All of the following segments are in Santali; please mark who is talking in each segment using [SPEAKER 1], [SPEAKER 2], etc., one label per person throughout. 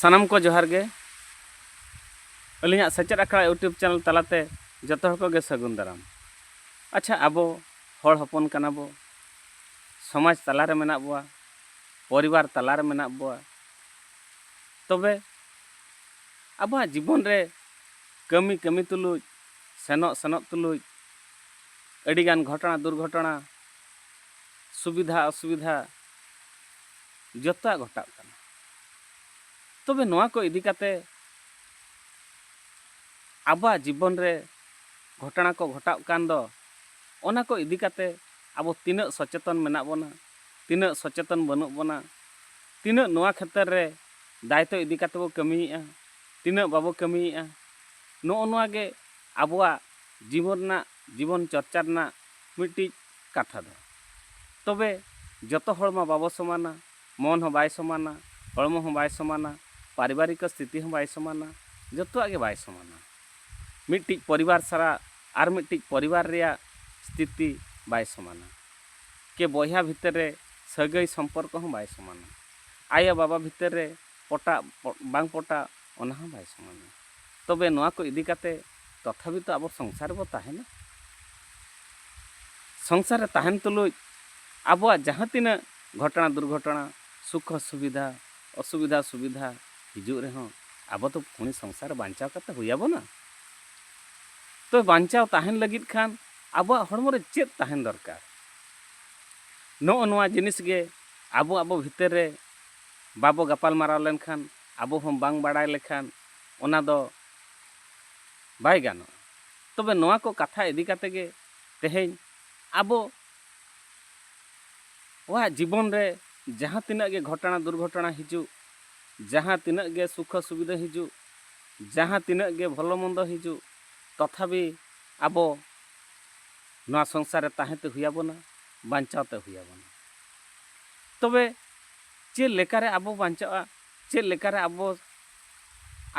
[SPEAKER 1] ᱥᱟᱱᱟᱢ ᱠᱚ ᱡᱚᱦᱟᱨ ᱜᱮ ᱟᱹᱞᱤᱧᱟᱜ ᱥᱮᱪᱮᱫ ᱟᱠᱷᱲᱟ ᱤᱭᱩᱴᱩᱵᱽ ᱪᱮᱱᱮᱞ ᱛᱟᱞᱟᱛᱮ ᱡᱚᱛᱚ ᱦᱚᱲ ᱠᱚᱜᱮ ᱥᱟᱹᱜᱩᱱ ᱫᱟᱨᱟᱢ ᱟᱪᱪᱷᱟ ᱟᱵᱚ ᱦᱚᱲ ᱦᱚᱯᱚᱱ ᱠᱟᱱᱟ ᱵᱚ ᱥᱚᱢᱟᱡᱽ ᱛᱟᱞᱟᱨᱮ ᱢᱮᱱᱟᱜ ᱵᱚᱣᱟ ᱯᱚᱨᱤᱵᱟᱨ ᱛᱟᱞᱟᱨᱮ ᱢᱮᱱᱟᱜ ᱵᱚᱣᱟ ᱛᱚᱵᱮ ᱟᱵᱚᱣᱟᱜ ᱡᱤᱵᱚᱱ ᱨᱮ ᱠᱟᱹᱢᱤ ᱠᱟᱹᱢᱤ ᱛᱩᱞᱩᱡ ᱥᱮᱱᱚᱜ ᱥᱮᱱᱚᱜ ᱛᱩᱞᱩᱡ ᱟᱹᱰᱤᱜᱟᱱ ᱜᱷᱚᱴᱚᱱᱟ ᱫᱩᱨᱜᱷᱚᱴᱚᱱᱟ ᱥᱩᱵᱤᱫᱷᱟ ᱚᱥᱩᱵᱤᱫᱷᱟ ᱡᱚᱛᱚᱣᱟᱜ ᱜᱷᱚᱴᱟᱜ ᱠᱟᱱᱟ᱾ ᱛᱚᱵᱮ ᱱᱚᱣᱟ ᱠᱚ ᱤᱫᱤ ᱠᱟᱛᱮ ᱟᱵᱚᱣᱟᱜ ᱡᱤᱵᱚᱱ ᱨᱮ ᱜᱷᱚᱴᱚᱱᱟ ᱠᱚ ᱜᱷᱚᱴᱟᱜ ᱠᱟᱱ ᱫᱚ ᱚᱱᱟ ᱠᱚ ᱤᱫᱤ ᱠᱟᱛᱮ ᱟᱵᱚ ᱛᱤᱱᱟᱹᱜ ᱥᱚᱪᱮᱛᱚᱱ ᱢᱮᱱᱟᱜ ᱵᱚᱱᱟ, ᱛᱤᱱᱟᱹᱜ ᱥᱚᱪᱮᱛᱚᱱ ᱵᱟᱹᱱᱩᱜ ᱵᱚᱱᱟ, ᱛᱤᱱᱟᱹᱜ ᱱᱚᱣᱟ ᱠᱷᱮᱛᱨᱮ ᱨᱮ ᱫᱟᱭᱤᱛᱛᱚ ᱤᱫᱤ ᱠᱟᱛᱮ ᱵᱚ ᱠᱟᱹᱢᱤᱭᱮᱫᱼᱟ, ᱛᱤᱱᱟᱹᱜ ᱵᱟᱵᱚ ᱠᱟᱹᱢᱤᱭᱮᱫᱼᱟ, ᱱᱚᱜᱼᱚ ᱱᱚᱣᱟ ᱜᱮ ᱟᱵᱚᱣᱟᱜ ᱡᱤᱵᱚᱱ ᱨᱮᱱᱟᱜ ᱡᱤᱵᱚᱱ ᱪᱚᱨᱪᱟ ᱨᱮᱱᱟᱜ ᱢᱤᱫᱴᱤᱡ ᱠᱟᱛᱷᱟ ᱫᱚ᱾ ᱛᱚᱵᱮ ᱡᱚᱛᱚ ᱦᱚᱲ ᱢᱟ ᱵᱟᱵᱚ ᱥᱚᱢᱟᱱᱟ᱾ ᱢᱚᱱ ᱦᱚᱸ ᱵᱟᱭ ᱥᱚᱢᱟᱱᱟ, ᱦᱚᱲᱢᱚ ᱦᱚᱸ ᱵᱟᱭ ᱥᱚᱢᱟᱱᱟ, ᱯᱟᱨᱤᱵᱟᱨᱤᱠᱚ ᱥᱛᱷᱤᱛᱤ ᱦᱚᱸ ᱵᱟᱭ ᱥᱚᱢᱟᱱᱟ, ᱡᱚᱛᱚᱣᱟᱜ ᱜᱮ ᱵᱟᱭ ᱥᱚᱢᱟᱱᱟ᱾ ᱢᱤᱫᱴᱤᱡ ᱯᱚᱨᱤᱵᱟᱨ ᱥᱟᱞᱟᱜ ᱟᱨ ᱢᱤᱫᱴᱤᱡ ᱯᱚᱨᱤᱵᱟᱨ ᱨᱮᱭᱟᱜ ᱥᱛᱷᱤᱛᱤ ᱵᱟᱭ ᱥᱚᱢᱟᱱᱟ᱾ ᱠᱮ ᱵᱚᱭᱦᱟ ᱵᱷᱤᱛᱟᱹᱨ ᱨᱮ ᱥᱟᱹᱜᱟᱹᱭ ᱥᱚᱢᱯᱚᱨᱠᱚ ᱦᱚᱸ ᱵᱟᱭ ᱥᱚᱢᱟᱱᱟ᱾ ᱟᱭᱚ ᱵᱟᱵᱟ ᱵᱷᱤᱛᱟᱹᱨ ᱨᱮ ᱯᱚᱴᱟᱜ ᱵᱟᱝ ᱯᱚᱴᱟᱜ ᱚᱱᱟ ᱦᱚᱸ ᱵᱟᱭ ᱥᱚᱢᱟᱱᱟ᱾ ᱛᱚᱵᱮ ᱱᱚᱣᱟ ᱠᱚ ᱤᱫᱤ ᱠᱟᱛᱮ ᱛᱚᱛᱷᱟᱵᱤ ᱛᱚ ᱟᱵᱚ ᱥᱚᱝᱥᱟᱨ ᱨᱮᱵᱚ ᱛᱟᱦᱮᱱᱟ᱾ ᱥᱚᱝᱥᱟᱨ ᱨᱮ ᱛᱟᱦᱮᱱ ᱛᱩᱞᱩᱡ ᱟᱵᱚᱣᱟᱜ ᱡᱟᱦᱟᱸ ᱛᱤᱱᱟᱹᱜ ᱜᱷᱚᱴᱚᱱᱟ ᱫᱩᱨᱜᱷᱚᱴᱚᱱᱟ, ᱥᱩᱠᱷᱚ ᱥᱩᱵᱤᱫᱷᱟ, ᱚᱥᱩᱵᱤᱫᱷᱟ ᱥᱩᱵᱤᱫᱷᱟ ᱦᱤᱡᱩᱜ ᱨᱮᱦᱚᱸ ᱟᱵᱚ ᱫᱚ ᱯᱷᱩᱬᱤ ᱥᱚᱝᱥᱟᱨ ᱵᱟᱧᱪᱟᱣ ᱠᱟᱛᱮ ᱦᱩᱭ ᱟᱵᱚᱱᱟ᱾ ᱛᱚᱵᱮ ᱵᱟᱧᱪᱟᱣ ᱛᱟᱦᱮᱱ ᱞᱟᱹᱜᱤᱫ ᱠᱷᱟᱱ ᱟᱵᱚᱣᱟᱜ ᱦᱚᱲᱢᱚ ᱨᱮ ᱪᱮᱫ ᱛᱟᱦᱮᱱ ᱫᱚᱨᱠᱟᱨ? ᱱᱚᱜᱼᱚ ᱱᱚᱣᱟ ᱡᱤᱱᱤᱥ ᱜᱮ ᱟᱵᱚ ᱟᱵᱚ ᱵᱷᱤᱛᱟᱹᱨ ᱨᱮ ᱵᱟᱵᱚ ᱜᱟᱯᱟᱞᱢᱟᱨᱟᱣ ᱞᱮᱱᱠᱷᱟᱱ ᱟᱵᱚ ᱦᱚᱸ ᱵᱟᱝ ᱵᱟᱲᱟᱭ ᱞᱮᱠᱷᱟᱱ ᱚᱱᱟ ᱫᱚ ᱵᱟᱭ ᱜᱟᱱᱚᱜᱼᱟ᱾ ᱛᱚᱵᱮ ᱱᱚᱣᱟ ᱠᱚ ᱠᱟᱛᱷᱟ ᱤᱫᱤ ᱠᱟᱛᱮ ᱜᱮ ᱛᱮᱦᱮᱧ ᱟᱵᱚ ᱣᱟᱜ ᱡᱤᱵᱚᱱ ᱨᱮ ᱡᱟᱦᱟᱸ ᱛᱤᱱᱟᱹᱜ ᱜᱮ ᱜᱷᱚᱴᱟᱬᱟ ᱫᱩᱨᱜᱷᱚᱴᱟᱬᱟ ᱦᱤᱡᱩᱜ, ᱡᱟᱦᱟᱸ ᱛᱤᱱᱟᱹᱜ ᱜᱮ ᱥᱩᱠᱷᱚ ᱥᱩᱵᱤᱫᱷᱟᱹ ᱦᱤᱡᱩᱜ, ᱡᱟᱦᱟᱸ ᱛᱤᱱᱟᱹᱜ ᱜᱮ ᱵᱷᱚᱞᱚ ᱢᱚᱱᱫᱚ ᱦᱤᱡᱩᱜ ᱛᱚᱛᱷᱟᱵᱤ ᱟᱵᱚ ᱱᱚᱣᱟ ᱥᱚᱝᱥᱟᱨ ᱨᱮ ᱛᱟᱦᱮᱸ ᱛᱮ ᱦᱩᱭ ᱟᱵᱚᱱᱟ, ᱵᱟᱧᱪᱟᱣ ᱛᱮ ᱦᱩᱭ ᱟᱵᱚᱱᱟ᱾ ᱛᱚᱵᱮ ᱪᱮᱫ ᱞᱮᱠᱟ ᱨᱮ ᱟᱵᱚ ᱵᱟᱧᱪᱟᱜᱼᱟ ᱪᱮᱫ ᱞᱮᱠᱟ ᱨᱮ ᱟᱵᱚ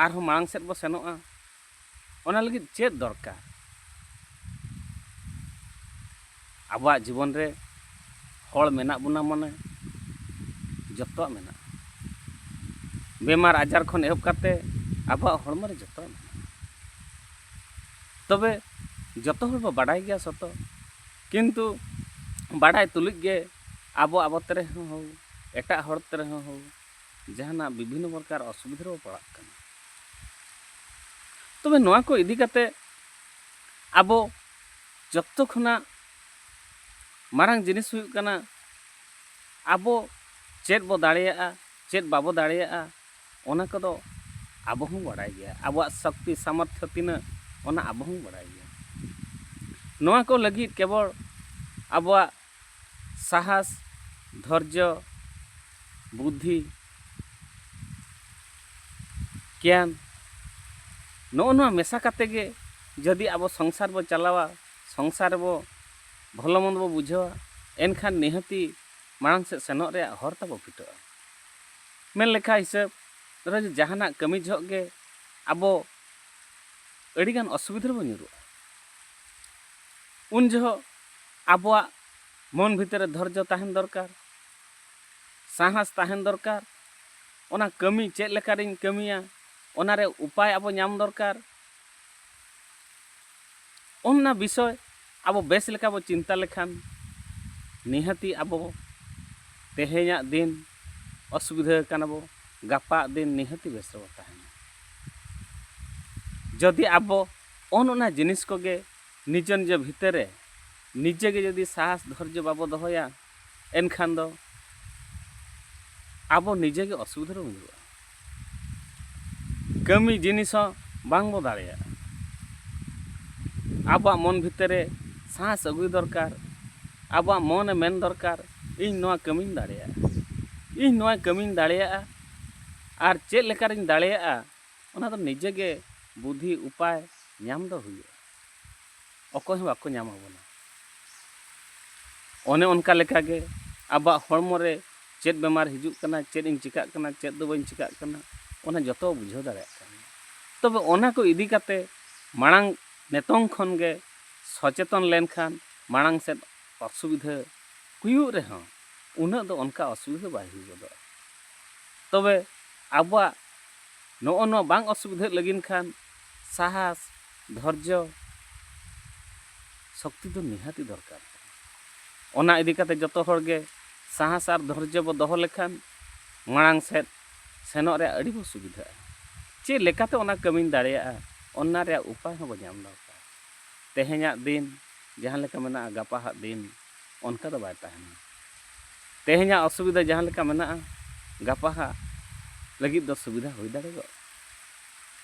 [SPEAKER 1] ᱟᱨ ᱦᱚᱸ ᱢᱟᱲᱟᱝ ᱥᱮᱫ ᱵᱚ ᱥᱮᱱᱚᱜᱼᱟ ᱚᱱᱟ ᱞᱟᱹᱜᱤᱫ ᱪᱮᱫ ᱫᱚᱨᱠᱟᱨ ᱟᱵᱚᱣᱟᱜ ᱡᱤᱵᱚᱱ ᱨᱮ ᱦᱚᱲ ᱢᱮᱱᱟᱜ ᱵᱚᱱᱟ ᱢᱟᱱᱮ ᱡᱚᱛᱚᱣᱟᱜ ᱢᱮᱱᱟᱜᱼᱟ ᱵᱮᱢᱟᱨ ᱟᱡᱟᱨ ᱠᱷᱚᱱ ᱮᱦᱚᱵ ᱠᱟᱛᱮ ᱟᱵᱚᱣᱟᱜ ᱦᱚᱲᱢᱚ ᱨᱮ ᱡᱚᱛᱚᱣᱟᱜ ᱢᱮᱱᱟᱜᱼᱟ ᱛᱚᱵᱮ ᱡᱚᱛᱚ ᱦᱚᱲ ᱵᱚ ᱵᱟᱰᱟᱭ ᱜᱮᱭᱟ ᱥᱚᱛᱚ ᱠᱤᱱᱛᱩ ᱵᱟᱰᱟᱭ ᱛᱩᱞᱩᱡ ᱜᱮ ᱟᱵᱚ ᱟᱵᱚ ᱛᱮ ᱨᱮᱦᱚᱸ ᱦᱳᱠ ᱮᱴᱟᱜ ᱦᱚᱲ ᱛᱮ ᱨᱮᱦᱚᱸ ᱦᱳᱠ ᱡᱟᱦᱟᱱᱟᱜ ᱵᱤᱵᱷᱤᱱᱱᱚ ᱯᱨᱚᱠᱟᱨ ᱚᱥᱩᱵᱤᱫᱷᱟ ᱨᱮᱵᱚ ᱯᱟᱲᱟᱜ ᱠᱟᱱᱟ ᱛᱚᱵᱮ ᱱᱚᱣᱟ ᱠᱚ ᱤᱫᱤ ᱠᱟᱛᱮ ᱟᱵᱚ ᱡᱚᱛᱚ ᱠᱷᱚᱱᱟᱜ ᱢᱟᱨᱟᱝ ᱡᱤᱱᱤᱥ ᱦᱩᱭᱩᱜ ᱠᱟᱱᱟ ᱟᱵᱚ ᱪᱮᱫ ᱵᱚ ᱫᱟᱲᱮᱭᱟᱜᱼᱟ ᱪᱮᱫ ᱵᱟᱵᱚ ᱫᱟᱲᱮᱭᱟᱜᱼᱟ ᱚᱱᱟ ᱠᱚᱫᱚ ᱟᱵᱚ ᱦᱚᱸ ᱵᱟᱲᱟᱭ ᱜᱮᱭᱟ ᱟᱵᱚᱣᱟᱜ ᱥᱚᱠᱛᱤ ᱥᱟᱢᱚᱨᱛᱷᱚ ᱛᱤᱱᱟᱹᱜ ᱚᱱᱟ ᱟᱵᱚ ᱦᱚᱸ ᱵᱟᱲᱟᱭ ᱜᱮᱭᱟ ᱱᱚᱣᱟ ᱠᱚ ᱞᱟᱹᱜᱤᱫ ᱠᱮᱵᱚᱞ ᱟᱵᱚᱣᱟᱜ ᱥᱟᱦᱟᱥ ᱫᱷᱚᱨᱡᱚ ᱵᱩᱫᱷᱤ ᱜᱮᱭᱟᱱ ᱱᱚᱜᱼᱚ ᱱᱚᱣᱟ ᱢᱮᱥᱟ ᱠᱟᱛᱮ ᱜᱮ ᱡᱩᱫᱤ ᱟᱵᱚ ᱥᱚᱝᱥᱟᱨ ᱵᱚ ᱪᱟᱞᱟᱣᱟ ᱥᱚᱝᱥᱟᱨ ᱨᱮᱵᱚ ᱵᱷᱚᱞᱚ ᱢᱚᱱᱫᱚ ᱵᱚ ᱵᱩᱡᱷᱟᱹᱣᱟ ᱮᱱᱠᱷᱟᱱ ᱱᱤᱦᱟᱹᱛᱤ ᱢᱟᱲᱟᱝ ᱥᱮᱫ ᱥᱮᱱᱚᱜ ᱨᱮᱭᱟᱜ ᱦᱚᱨ ᱛᱟᱵᱚ ᱯᱷᱤᱴᱟᱹᱜᱼᱟ ᱢᱮᱱ ᱞᱮᱠᱷᱟ ᱦᱤᱥᱟᱹᱵ ᱨᱮ ᱡᱟᱦᱟᱱᱟᱜ ᱠᱟᱹᱢᱤ ᱡᱚᱦᱚᱜ ᱜᱮ ᱟᱵᱚ ᱟᱹᱰᱤ ᱜᱟᱱ ᱚᱥᱩᱵᱤᱫᱷᱟ ᱨᱮᱵᱚ ᱧᱩᱨᱩᱜᱼᱟ ᱩᱱ ᱡᱚᱦᱚᱜ ᱟᱵᱚᱣᱟᱜ ᱢᱚᱱ ᱵᱷᱤᱛᱤᱨ ᱨᱮ ᱫᱷᱚᱨᱡᱚ ᱛᱟᱦᱮᱱ ᱫᱚᱨᱠᱟᱨ ᱥᱟᱦᱟᱥ ᱛᱟᱦᱮᱱ ᱫᱚᱨᱠᱟᱨ ᱚᱱᱟ ᱠᱟᱹᱢᱤ ᱪᱮᱫ ᱞᱮᱠᱟ ᱨᱤᱧ ᱠᱟᱹᱢᱤᱭᱟ ᱚᱱᱟ ᱨᱮ ᱩᱯᱟᱭ ᱟᱵᱚ ᱧᱟᱢ ᱫᱚᱨᱠᱟᱨ ᱚᱱᱟ ᱵᱤᱥᱚᱭ ᱟᱵᱚ ᱵᱮᱥ ᱞᱮᱠᱟ ᱵᱚ ᱪᱤᱱᱛᱟᱹ ᱞᱮᱠᱷᱟᱱ ᱱᱤᱦᱟᱹᱛᱤ ᱟᱵᱚ ᱛᱮᱦᱮᱧᱟᱜ ᱫᱤᱱ ᱚᱥᱩᱵᱤᱫᱷᱟᱹ ᱟᱠᱟᱱᱟ ᱵᱚ ᱜᱟᱯᱟᱜ ᱫᱤᱱ ᱱᱤᱦᱟᱹᱛᱤ ᱵᱮᱥ ᱨᱮᱵᱚ ᱛᱟᱦᱮᱱᱟ ᱡᱩᱫᱤ ᱟᱵᱚ ᱚᱱ ᱚᱱᱟ ᱡᱤᱱᱤᱥ ᱠᱚᱜᱮ ᱱᱤᱡᱮ ᱱᱤᱡᱮ ᱵᱷᱤᱛᱟᱹᱨ ᱨᱮ ᱱᱤᱡᱮ ᱜᱮ ᱡᱩᱫᱤ ᱥᱟᱦᱚᱥ ᱫᱷᱚᱨᱡᱚ ᱵᱟᱵᱚ ᱫᱚᱦᱚᱭᱟ ᱮᱱᱠᱷᱟᱱ ᱫᱚ ᱟᱵᱚ ᱱᱤᱡᱮ ᱜᱮ ᱚᱥᱩᱵᱤᱫᱷᱟ ᱨᱮᱵᱚᱱ ᱧᱩᱨᱩᱜᱼᱟ ᱠᱟᱹᱢᱤ ᱡᱤᱱᱤᱥ ᱦᱚᱸ ᱵᱟᱝ ᱵᱚ ᱫᱟᱲᱮᱭᱟᱜᱼᱟ ᱟᱵᱚᱣᱟᱜ ᱢᱚᱱ ᱵᱷᱤᱛᱤᱨ ᱨᱮ ᱥᱟᱦᱚᱥ ᱟᱹᱜᱩᱭ ᱫᱚᱨᱠᱟᱨ ᱟᱵᱚᱣᱟᱜ ᱢᱚᱱᱮ ᱢᱮᱱ ᱫᱚᱨᱠᱟᱨ ᱤᱧ ᱱᱚᱣᱟ ᱠᱟᱹᱢᱤᱧ ᱫᱟᱲᱮᱭᱟᱜᱼᱟ ᱤᱧ ᱱᱚᱣᱟ ᱠᱟᱹᱢᱤᱧ ᱫᱟᱲᱮᱭᱟᱜᱼᱟ ᱟᱨ ᱪᱮᱫ ᱞᱮᱠᱟ ᱨᱤᱧ ᱫᱟᱲᱮᱭᱟᱜᱼᱟ ᱚᱱᱟ ᱫᱚ ᱱᱤᱡᱮ ᱜᱮ ᱵᱩᱫᱷᱤ ᱩᱯᱟᱭ ᱧᱟᱢ ᱫᱚ ᱦᱩᱭᱩᱜᱼᱟ ᱚᱠᱚᱭ ᱦᱚᱸ ᱵᱟᱠᱚ ᱧᱟᱢ ᱟᱵᱚᱱᱟ ᱚᱱᱮ ᱚᱱᱠᱟ ᱞᱮᱠᱟ ᱜᱮ ᱟᱵᱚᱣᱟᱜ ᱦᱚᱲᱢᱚ ᱨᱮ ᱪᱮᱫ ᱵᱮᱢᱟᱨ ᱦᱤᱡᱩᱜ ᱠᱟᱱᱟ ᱪᱮᱫ ᱤᱧ ᱪᱤᱠᱟᱹᱜ ᱠᱟᱱᱟ ᱪᱮᱫ ᱫᱚ ᱵᱟᱹᱧ ᱪᱤᱠᱟᱹᱜ ᱠᱟᱱᱟ ᱚᱱᱟ ᱡᱚᱛᱚ ᱵᱩᱡᱷᱟᱹᱣ ᱫᱟᱲᱮᱭᱟᱜ ᱠᱟᱱᱟ ᱛᱚᱵᱮ ᱚᱱᱟ ᱠᱚ ᱤᱫᱤ ᱠᱟᱛᱮ ᱢᱟᱲᱟᱝ ᱱᱤᱛᱚᱝ ᱠᱷᱚᱱ ᱜᱮ ᱥᱚᱪᱮᱛᱚᱱ ᱞᱮᱱᱠᱷᱟᱱ ᱢᱟᱲᱟᱝ ᱥᱮᱫ ᱚᱥᱩᱵᱤᱫᱷᱟ ᱦᱩᱭᱩᱜ ᱨᱮᱦᱚᱸ ᱩᱱᱟᱹᱜ ᱫᱚ ᱚᱱᱠᱟ ᱚᱥᱩᱵᱤᱫᱷᱟ ᱵᱟᱭ ᱦᱩᱭ ᱜᱚᱫᱚᱜᱼᱟ ᱛᱚᱵᱮ ᱟᱵᱚᱣᱟᱜ ᱱᱚᱜᱼᱚ ᱱᱚᱣᱟ ᱵᱟᱝ ᱚᱥᱩᱵᱤᱫᱷᱟᱜ ᱞᱟᱹᱜᱤᱫ ᱠᱷᱟᱱ ᱥᱟᱦᱟᱥ ᱫᱷᱚᱨᱡᱚ ᱥᱚᱠᱛᱤ ᱫᱚ ᱱᱤᱦᱟᱹᱛᱤ ᱫᱚᱨᱠᱟᱨ ᱠᱟᱱᱟ ᱚᱱᱟ ᱤᱫᱤ ᱠᱟᱛᱮ ᱡᱚᱛᱚ ᱦᱚᱲ ᱜᱮ ᱥᱟᱦᱟᱥ ᱟᱨ ᱫᱷᱚᱨᱡᱚ ᱵᱚ ᱫᱚᱦᱚ ᱞᱮᱠᱷᱟᱱ ᱢᱟᱲᱟᱝ ᱥᱮᱫ ᱥᱮᱱᱚᱜ ᱨᱮᱭᱟᱜ ᱟᱹᱰᱤ ᱵᱚ ᱥᱩᱵᱤᱫᱷᱟᱜᱼᱟ ᱪᱮᱫ ᱞᱮᱠᱟᱛᱮ ᱚᱱᱟ ᱠᱟᱹᱢᱤᱧ ᱫᱟᱲᱮᱭᱟᱜᱼᱟ ᱚᱱᱟ ᱨᱮᱭᱟᱜ ᱩᱯᱟᱭ ᱦᱚᱸ ᱵᱚ ᱧᱟᱢ ᱫᱚᱨᱠᱟᱨ ᱛᱮᱦᱮᱧᱟᱜ ᱫᱤᱱ ᱡᱟᱦᱟᱸ ᱞᱮᱠᱟ ᱢᱮᱱᱟᱜᱼᱟ ᱜᱟᱯᱟᱦᱟᱜ ᱫᱤᱱ ᱚᱱᱠᱟ ᱫᱚ ᱵᱟᱭ ᱛᱟᱦᱮᱱᱟ ᱛᱮᱦᱮᱧᱟᱜ ᱚᱥᱩᱵᱤᱫᱷᱟ ᱡᱟᱦᱟᱸ ᱞᱮᱠᱟ ᱢᱮᱱᱟᱜᱼᱟ ᱜᱟᱯᱟ ᱦᱟᱸᱜ ᱞᱟᱹᱜᱤᱫ ᱫᱚ ᱥᱩᱵᱤᱫᱷᱟ ᱦᱩᱭ ᱫᱟᱲᱮᱭᱟᱜᱼᱟ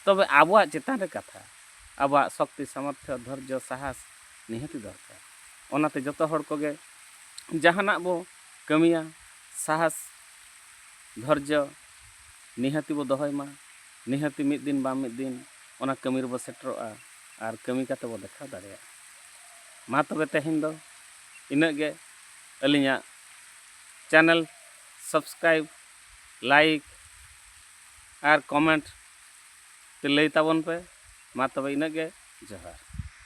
[SPEAKER 1] ᱛᱚᱵᱮ ᱟᱵᱚᱣᱟᱜ ᱪᱮᱛᱟᱱ ᱨᱮ ᱠᱟᱛᱷᱟ ᱟᱵᱚᱣᱟᱜ ᱥᱚᱠᱛᱤ ᱥᱟᱢᱚᱨᱛᱷᱚ ᱫᱷᱳᱨᱡᱚ ᱥᱟᱦᱟᱥ ᱱᱤᱦᱟᱹᱛ ᱫᱚᱨᱠᱟᱨ ᱚᱱᱟᱛᱮ ᱡᱚᱛᱚ ᱦᱚᱲ ᱠᱚᱜᱮ ᱡᱟᱦᱟᱱᱟᱜ ᱵᱚ ᱠᱟᱹᱢᱤᱭᱟ ᱥᱟᱦᱟᱥ ᱫᱷᱳᱨᱡᱚ ᱱᱤᱦᱟᱹᱛ ᱵᱚ ᱫᱚᱦᱚᱭ ᱢᱟ ᱱᱤᱦᱟᱹᱛ ᱢᱤᱫ ᱫᱤᱱ ᱵᱟᱝ ᱢᱤᱫ ᱫᱤᱱ ᱚᱱᱟ ᱠᱟᱹᱢᱤ ᱨᱮᱵᱚ ᱥᱮᱴᱮᱨᱚᱜᱼᱟ ᱟᱨ ᱠᱟᱹᱢᱤ ᱠᱟᱛᱮ ᱵᱚ ᱫᱮᱠᱷᱟᱣ ᱫᱟᱲᱮᱭᱟᱜᱼᱟ ᱢᱟ ᱛᱚᱵᱮ ᱛᱮᱦᱮᱧ ᱫᱚ ᱤᱱᱟᱹᱜ ᱜᱮ ᱟᱹᱞᱤᱧᱟᱜ ᱪᱮᱱᱮᱞ ᱥᱟᱵᱥᱠᱨᱟᱭᱤᱵᱽ ᱞᱟᱭᱤᱠ ᱟᱨ ᱠᱚᱢᱮᱱᱴ ᱞᱟᱹᱭ ᱛᱟᱵᱚᱱ ᱯᱮ ᱢᱟ ᱛᱚᱵᱮ ᱤᱱᱟᱹᱜ ᱜᱮ ᱡᱚᱦᱟᱨ